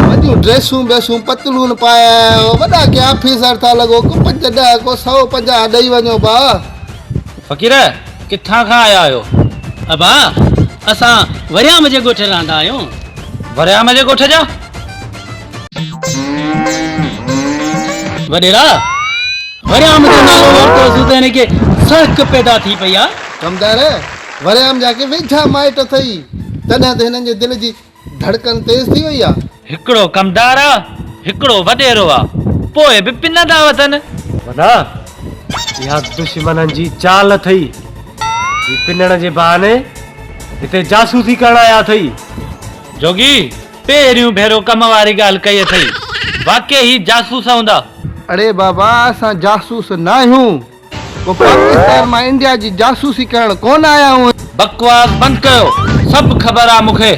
وڏيون ڊريسون بيسون پتلون پايا آهيو وڏا ڪي آفيسر ٿا لڳو ڪو پنج ڏهه ڪو سؤ پنجاهه ڏئي وڃو ڀاء فقير! ڪٿان کان آيا آهيو؟ ابا! اسان وريام جي ڳوٺ رهندا آهيون. وريام جي ڳوٺ جا؟ وڏيرا! وريام جو نالو ورتو سو ته هن کي سهڪ پيدا ٿي پئي آهي. ڪمدار! وريام جا ڪي ويجها مائٽ اٿئي، تڏهن ته هنن جي دل جي ڌڙڪن تيز ٿي وئي آ. هڪڙو ڪمدار آ، هڪڙو وڏيرو آ، پوء به پنن ٿا وتن. وڏا، اها دشمنن جي چال اٿئي. هي پنڻ جي بهاني هتي جاسوسي ڪرڻ آيا اٿئي. جوڳي، پهريون ڀيرو ڪم واري ڳالهه ڪئي اٿئي. واقعي هي جاسوس هوندا. اڙي بابا، اسان جاسوس ناهيون. ڪو پاڪستان مان انڊيا جي جاسوسي ڪرڻ ڪون آيا هئا. بڪواس بند ڪيو سڀ خبر آ مونکي.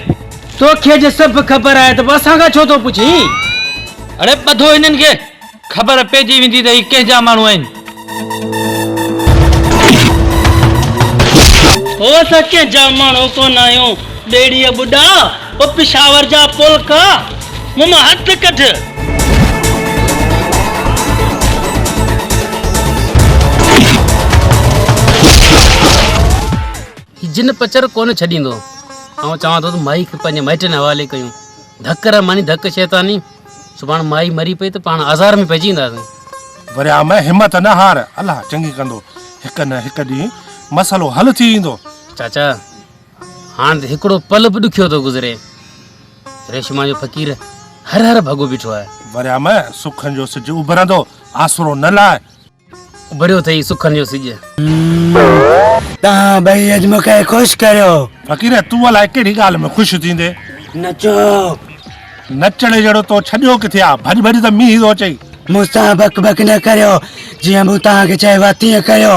توکي جي سڀ خبر آهي ته پوء اسان کان ڇو ٿو پڇين. اڙي ٻڌو هنن کي خبر پئجي ويندي ته هي ڪنهنجا ماڻهو آهن. هو اسان ڪنهن جا ماڻهو ڪونه آهيون. ٻيڙيء ٻڏاء او پشاور جا پولڪا، مون مان هٿ ڪڍ. هي جن پچر ڪونه ڇڏيندو. آئون چوان ٿو ته مائي کي پنهنجي مائٽن حوالي ڪيون. ڌڪ رحماني ڌڪ شيطاني. سڀاڻ مائي مري پئي ته پاڻ آزار ۾ پئجي وينداسين. وريام همت نه هار. الله چڱي ڪندو. هڪ نه هڪ ڏينهن مسئلو حل ٿي ويندو. چاچا! هاڻ ته هڪڙو پل به ڏکيو ٿو گذري. ريشما جو فقير هر هر ڀڳو بيٺو آهي. وريا مئي سکن جو سج اڀرندو آسرو نه لاء. اڀريو اٿئي سکن جو سج. توهان ٻئي اڄ مون کي خوش ڪيو. فقير تون الائي ڪهڙي ڳالهه ۾ خوش ٿيندين. نچو. نچڻ جهڙو تو ڇڏيو ڪٿي آ. ڀڄ ڀڄ ته مينهن ٿو اچئي. مون سان بڪ بڪ نه ڪريو. جيئن مون توهان کي چيو آهي تيئن ڪريو.